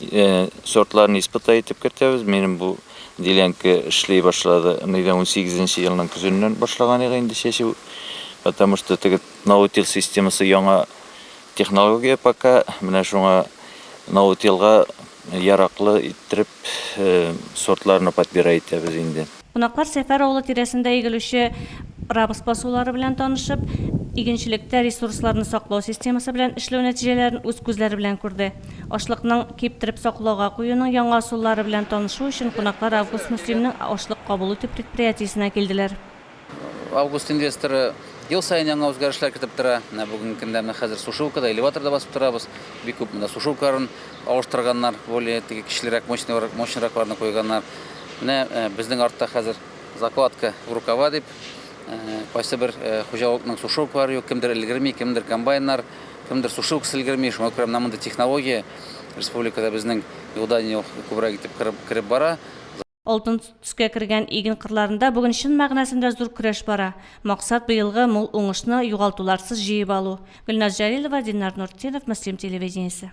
Э, сортларын испытать итеп кертәбез. Минем бу делянка эшли башлады. Аны 18 елның көзеннән башлаган иде инде чәчү. Потому что теге наутил системасы яңа технология пока. Менә шуңа наутилга яраклы иттереп э, сортларны подбирать итәбез инде. Кунаклар Сәфәр авылы тирәсендә игелүче рапс басулары белән танышып, игенчелектә ресурсларны саклау системасы белән эшләү нәтиҗәләрен үз күзләре белән күрде. Ашлыкның киптереп саклауга куюның яңа ысуллары белән танышу өчен кунаклар Август Мөслимнең ашлык кабул итү предприятиесенә килделәр. Август инвесторы ел саен яңа үзгәрешләр кертеп тора. Менә бүгенге көндә менә хәзер сушилка да, элеватор да басып торабыз. Бик күп монда сушилкаларын алыштырганнар, более теге кечелерәк, мощныйрак, мощныйракларны куйганнар. Менә безнең артта хәзер закладка в рукава дип, кайсы бер хуҗалыкның сушилкалары юк, кемдер өлгерми, кемдер комбайннар, кемдер сушилкасы өлгерми. Шуңа күрә менә мондый технология республикада безнең юлда не күбрәк итеп кереп бара. Алтын төскә кергән иген кырларында бүген чын мәгънәсендә зур көрәш бара. Максат, быелгы мул уңышны югалтуларсыз җыеп алу. Гөлназ Җәлилова, Диннар Нуртдинов, Мөслим телевидениесе.